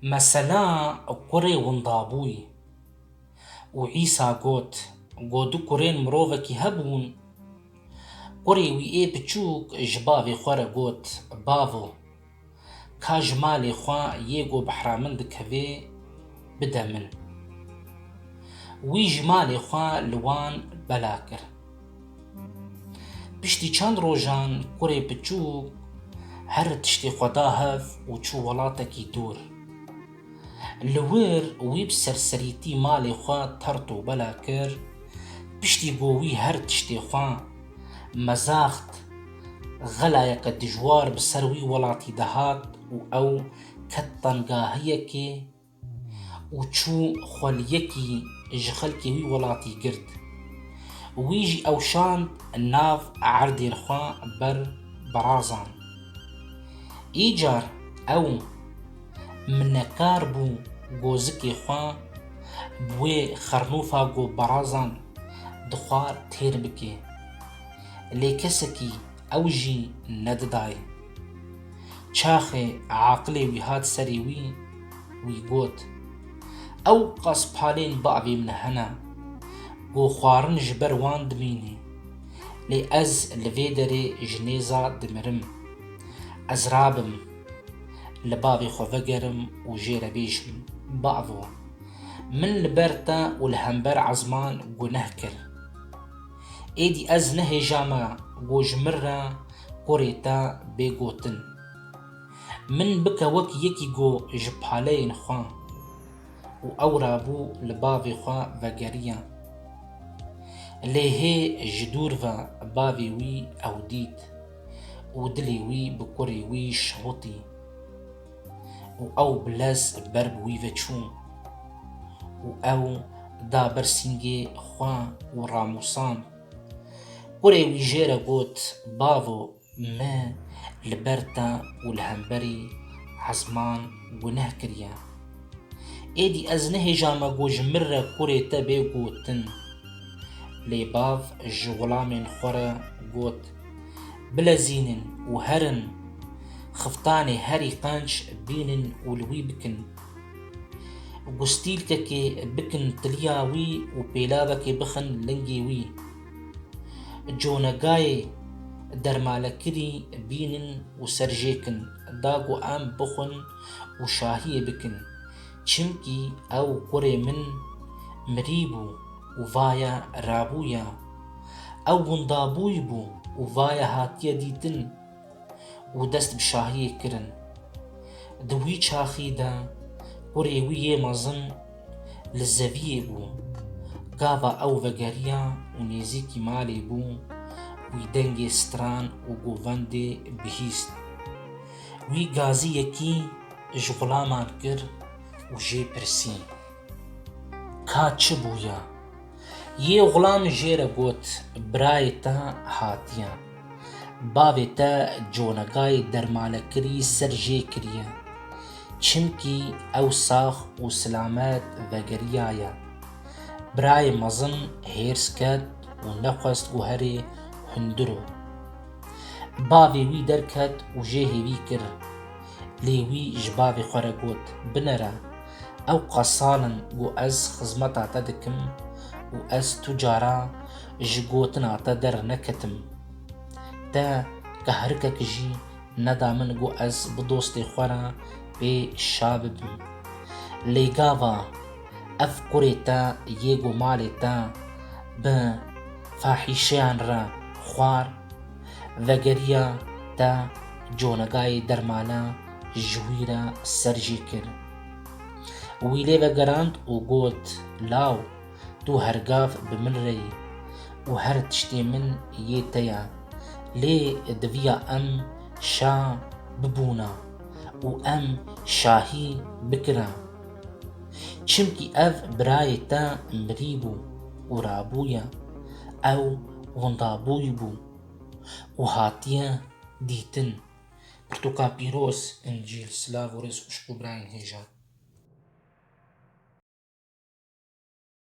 Mesela kurê winda bûy û Îsa got, Go du kurên mirovekî hebûn. Kurê wî ê biçûk ji bavê xwe re got, Bavo, ka ji malê xwe yê go behra min dikevê, bide min. Wî ji malê xwe li wan bela kir. Piştî çend rojan kurê piçûk her tiştê xwe da hev û çû welatekî dûr. Li wir wî bi serserîtî malê xwe tert û bela kir, piştî ku wî her tiştê xwe mezaxt, xelayeke dijwar bi ser wî welatî de hat û ew ket tengahiyekê, û çû xwe li yekî ji xelkê wî welatî girt. Wî jî ew şand nav erdên xwe ber berazan. Îcar ew minekar bû gozikê xwe bi wê xernofa ku berazan dixwar têr bike. Lê kesekî Ew jî nedidaye. Çaxê aqilê wî hat serê wî, wî got, Ew qas palên bavê min hene, ku xwarin ji ber wan dimîne, lê ez li vê derê ji nêza dimirim. Ez rabim, li bavê xwe vegerim û jê re bêjim, Bavo! Min li ber te û li hember ezman guneh kir. Êdî ez nehêja me ku ji min re kurê te bê gotin. Min bike wek yekî ku ji paleyên xwe û ew rabû li bavê xwe vegeriya. Lê hê ji dûr ve bavê wî ew dît û dilê wî bi kurê wî şihotî. û ew bi lez ber bi wî ve çû û ew da ber sîngê xwe û ramûsand. Kurê wî jê re got, Bavo, me li ber te û li hemberî ezman guneh kiriye. Êdî ez nehêjame ku ji min re kurê te bê gotin. Lê bav ji xulamên xwe re got, Bilezînin û herin, xiftanê herî qenc bînin û li wî bikin. Gustîlkekê bikin tiliya wî û pêlavekê bixin lingê wî. Conegayê dermalekirî bînin û serjêkin da ku em bixwin û şahiyê bikin. Çimkî ew kurê min mirî bû. û vaye rabûye. Ew windabûy bû û vaye hatiye dîtin û dest bi şahiyê kirin. Di wî çaxî de kurê wî yê mezin li zeviyê bû. Gava ew vegeriya û nêzîkî malê bû, wî dengê stran û govendê bihîst. Wî gaziyekî ji xulaman kir û jê pirsî. Ka çi bûya? Yê Xulam jê re got, Birayê te hatiye. Bavê te conegayê dermanekirî ser jê kiriye. Çimkî ew sax û silamet vegeriyaye. Birayê mezin hêrs ket û nexwest guherê hundir o. Bavê wî derket û jê hêvî kir. Lê wî ji bavê xwe re got, Binêre, ew qasan in ku ez xizmeta te dikim û ez tu cara ji gotina te derneketim. Te kehrikek jî neda min ku ez bi dostê xwe re pê şa bibim. Lê gava ev kurê te yê ku malê te bi fahîşeyan re xwar, Vegeriya te conegayê dermana ji wî re ser jî kir. Wî lê vegerand û got, Law, tu her gav bi min re yî û her tiştê min yê te ye. Lê diviya em şa bibûna û em şahî bikira. Çimkî ev birayê te mirî bû û rabûye. Ew winda bûy bû û hatiye dîtin. Pirtûka pîroz, Încîl, silav û rêz xwişk û birayên hêja.